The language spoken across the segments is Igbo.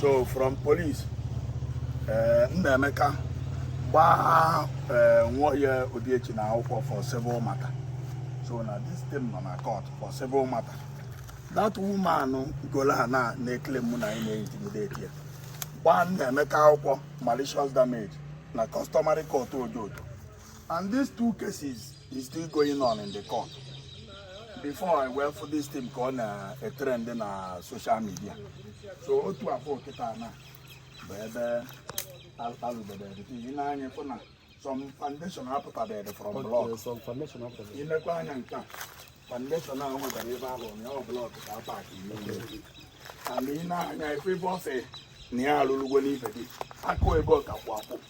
so from police eh, Nnaemeka gbaa eh, Nwoye Obiechina akwụkwọ for civil matter so na this thing nọ na court for civil matter that woman golu ana na-eclaim na anyị na-intimidate ya gbaa Nnaemeka akwụkwọ malicious damage na customary court Ojoto And these two cases is still going on in the court. Before I went for this thing called uh, a trend in uh, social media. So otu a fụ kịta na bụ ebe alụdebere i nee anya fụ na some foundation apụtabedị from block i lekwa anya nke a foundation ahụ nwetara ebe ahụ na ọ block ka a pack and i nee anya ị fụ ebe ọ sị na ya alụlụgwo n'ife gị akụ ebe ọ ka kwụ akwụ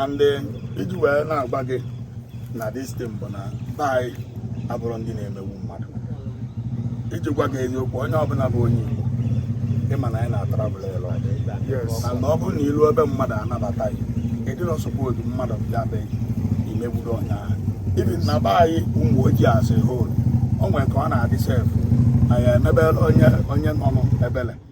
and eh, iji wee na-agwa gị na this thing bụ na be anyị abụrọ ndị na-emegbu mmadụ iji gwa gị eziokwu onye ọbụla bụ onye Igbo ị ma na anyị na-atravel a lot and ọ bụrụ na i lu ebe mmadụ anabata gị ị dịrọ suppose mmadụ bịa be i megbuo onye ahụ even na be anyị Umuoji as a whole o nwere ka ọ na-adị sef anyị emebere onye onye nọ n'ebele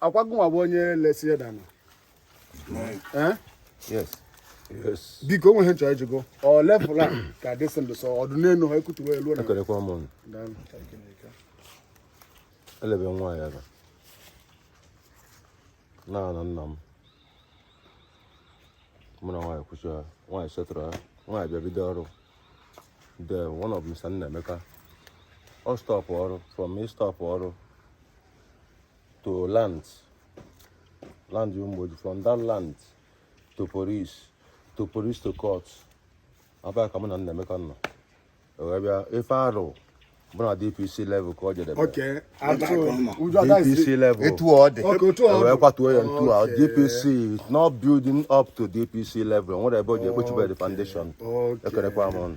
ọkwa gụnwa bụ onye lesi ya ana Eh? Yes. Yes. biko o nwe ihe m chọ ịjụ gị ọ level a ka this thing dụ sọ ọ dụ n'elu ha ekutuwe elu na Ekelekwa m unu. Daalụ. Elebe nwa ya ebe. N'ana nna m. Mụ na nwaanyị kwusịa. Nwaanyị settle ya. Nwaanyị bịa bido ọrụ. The one of Mr. Nnaemeka. Ọ stop ọrụ. From ịstop ọrụ. to land land Umuoji from that land to police to police to court abịa ka mụ na Nnaemeka nọ wee bịa ife arụ bụ na DPC level ka o jedebe DPC level etu ọ dị wee kwatuo ya ntu a DPC not building up to DPC level nwere ebe o ji ekpochibere foundation ekelekwa m unu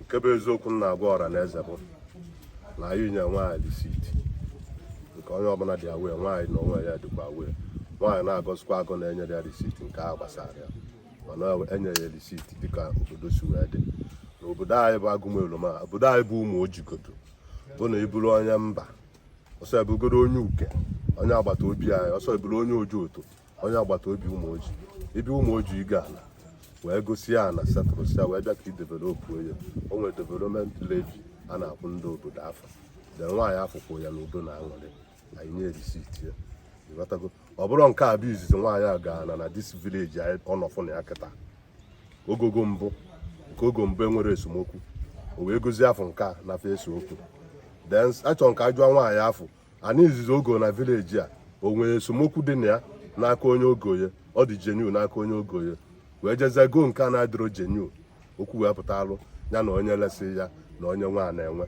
nke bụ eziokwu m na-agwa ọra na eze bụ na anyị nye nwaanyị receipt nke onye ọbụla dị aware nwaanyị na onwe ya dịkwa aware nwaanyị na-agọzikwa agọ na enyerọ ya receipt nke a gbasara ya mana enye ya receipt dịka obodo si wee dị na obodo anyị bụ Agumaelum obodo anyị bụ Umuoji godu bụ na ị bụrụ onye mba ọsọ ị bụgodu onye Uke onye agbata obi anyị ọsọ ị bụrụ onye Ojoto onye agbata obi Umuoji ị bịa Umuoji go ana wee gosịa ana settlesịa wee bịa ka i develop ya o nwere development levy a na-akwụ ndị obodo afụ the nwaanyị afụ kwụọ ya na udo na aṅụrị anyị nye receipt ya ị ghọtago ọ bụrọ nke a bụ izizi nwaanyị a go ana na this village anyị ọ nọfụ na ya kịta o gogo mbụ nke o go mbụ enwerọ esemokwu o wee gozie ofu nke a na-ese okwu then achọrọ m ka ajụọ nwaanyị afụ ana izizi o go na village a o nwere esemokwu dị na ya n'aka onye o go ya ọ dị genuine n'aka onye o go ya wee jezie goo nke a na-adịrọ genuine okwu wee pụtalụ ya na onye lesị ya na onye nwe ana nwe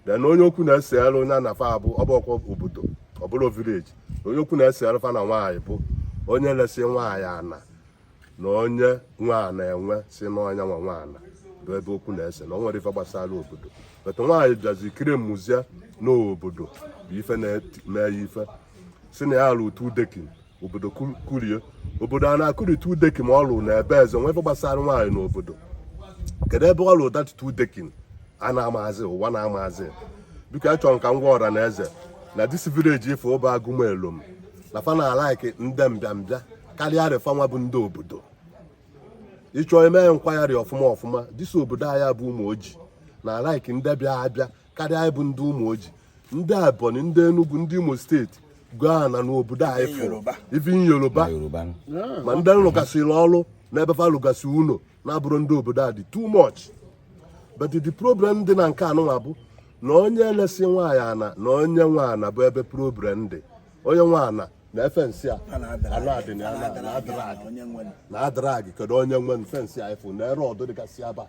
then onye okwu na-eselu ya na fa abụrọkwa obodo ọ bụrọ village onye okwu na-eselu fa na nwaanyị bụ onye lesị nwaanyị ana na onye nwe ana nwe sị n'ọ nya nwa nwe ana bụ ebe okwu na-ese na o nwerọ ife gbasara obodo but nwaanyị bịazi kiri mụzie n'obodo bụ ife na-eme ya ife sị na ya alụ two decking obodo kụrie obodo a na-akụrị two decking ma ọ lụrụ na ebe eze nwa ife gbasara nwaanyị n'obodo kedu ebe ọ lụrụ that two decking a na-amazi ụwa na-amazi biko achọrọ m ka m gwa ọra na eze na this village ife bụ Agụmelom na fa na-alike ndị mbịambịa karịarị fanwa bụ ndị obodo ị chọọ ime nkwagharị ọfụma ọfụma this obodo anyị bụ Umuoji na-alike ndị bịa abịa karịa anyị bụ ndị Umuoji ndị Ebonyi ndị Enugu ndị Imo State gaa na n'obodo anyị fụrụ even Yoruba ma ndị lụgasịrị ọrụ n'ebe fa lụgasị ụnọ na-abụrọ ndị obodo a dị too much but the problem dị na nke anụnwa bụ na onye lesị nwaanyị ana na onye nwe ana bụ ebe problem dị onye nwe ana na fensị a anadị na na adragị kedu onye nwe fence a ị fụ na rod dịgasị aba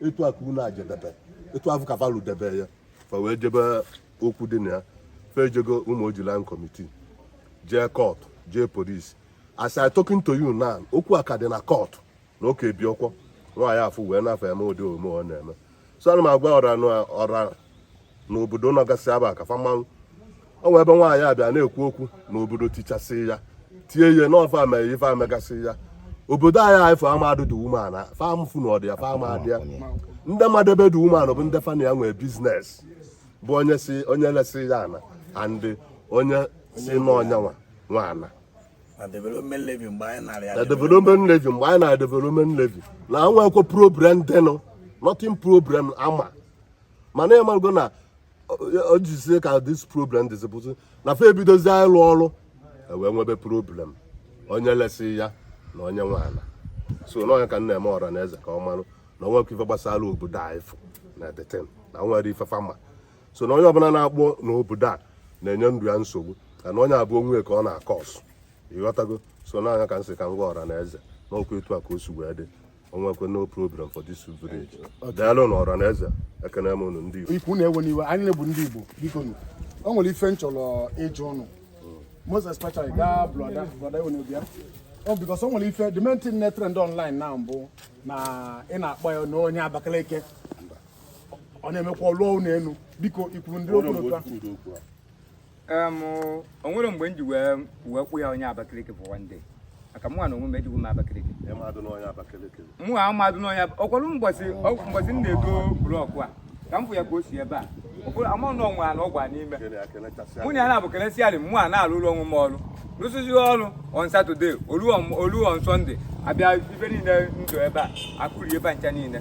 etu a ka ụnọ a jedebe etu afụ ka va lụdebe ya fa wee jebe okwu dị na ya fa ejego Umuoji Land Committee jee court jee police as I talking to you now okwu a ka dị na court na oke bi ọkwọ nwaanyị afụ wee nafe eme ụdị omume ọ na-eme so ana m agwa ọra ọra n'obodo nọgasị aba ka fa ma na o nwee ebe nwaanyị a bịa na-ekwu okwu n'obodo tichasị ya tie ihe n'ọ fa mere ife e megasị ya obodo anyị anyị fa amadụ the woman a fa amafụ na ọ dị ya fa amadị ya ndị madụ ebe the woman nọ bụ ndị fa na ya nwe business bụ onye si onye lesị ya ana and onye sị n'ọ nya nwa nwe ana na development levy mgbe anyị nara ya na development levy mgbe anyị na development levy na enwekwe problem dịnụ nothing problem ama mana ị marụgo na o jizie ka this problem dịzi bụzi na fa ebidozi ịlụ ọrụ e wee nwebe problem onye lesị ya na onye nwe ana so n'ọ nya ka m na-eme ọra na eze ka ọ marụ na o nwekwe ife gbasara obodo afụ na the thing na enwerọ ife fa ma so na onye ọbụla na-akpọ n'obodo a na-enye ndụ ya nsogbu ka na onye afụ onwe ya ka ọ na-akọ ọsụ ị ghọtago so n'ọ nya ka m sị ka m gwa ọra na eze n'ọkwa etu a ka o si wee dị o nwekwe no problem for this village daalụ nụ ọra na eze ekene m unu ndị Igbo biko unu ewena iwe anyịnwa bụ ndị Igbo biko nụ o nwere ife m chọrọ ịjụ unu most especially gaa brother brother ewe n'obi ya ọ because o nwere ife the main thing na-etrend online na mbụ na ị na-akpọ ya na onye Abakaliki ọ na-emekwa ọlụọ ụlọ elu biko ikwuru ndị okwu otu a o nwere mgbe m ji wee wee kwụ ya onye Abakaliki for one day maka mụ na onwe m ejighị m Abakaliki mụ a mmadụ n'ọnya ọkwalụ mbọsị mbọsị m na-edo blọkụ a ka m fụ ya ka o si ebe a ama na ọnwa na ọgwa n'ime mụ na ya na-abụ kelesịa dị mụ a na-alụ ụlọ onwe m ọrụ rụsịzi ọrụ on Saturday olu on Sunday abịa ife niile dị ebe a akụri ebe ncha niile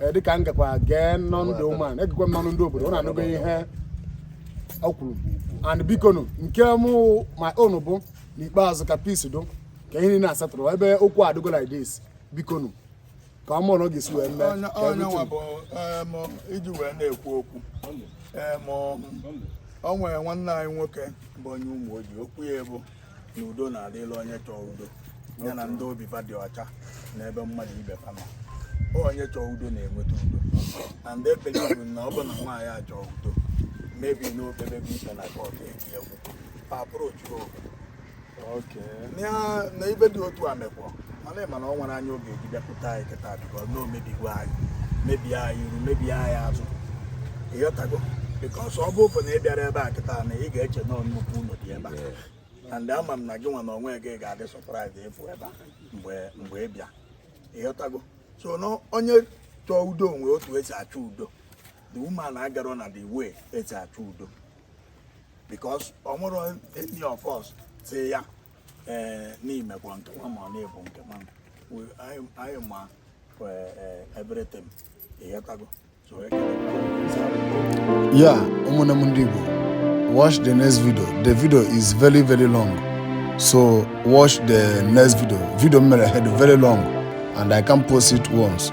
Eh, dịka m gakwa gee n'ọnụ the woman egekwa m n'ọnụ ndị obodo unu anụgo ihe o kwuru and bikonu nke m my own bụ n'ikpeazụ ka peace dị ka ihe niile a settle ebe okwu adịgo like this bikonu ka ọ mara otu ọ ga-esi wee mee onye nwa bụ em, iji wee na-ekwu okwu em, o nwere nwanne anyị nwoke bụ onye Umuoji okwu ya bụ na udo na-adịlị onye chọọ udo ya na ndị obi fa dị ọcha n'ebe mmadụ ibe fa nọ onye chọọ udo na-enweta udo and I believe na ọ bụ na nwaanyị a chọọ udo maybe n'okpebe bụ ikpe na kọt eji egwu fa approach otu oge na ife dị otu a mekwa mana ịma na o nwere anya oge eji bịakwute anyị kịta because na o mebigo anyị mebie anyị iru mebie anyị azụ ịghọtago because ọ bụ ofe na ị bịara ebe a kịta na ị ga-eche na nnukwu ụlọ dị ebe a and ama m na gị nwa na onwe gị ga-adị surprise ịfụ ebe a mgbe mgbe ị bịa ịghọtago so na onye chọọ udo o nwee otu esi achọ udo the woman agarọ na the way esi achọ udo because o nwerọ any of us sị ya ee n'imekwa nke nwa ma ọ na-ebu nke nwa anyị ma everything ịghọtago yeah ụmụnne m ndị Igbo watch the next video the video is very very long so watch the next video video m mere dị very long and I can't post it once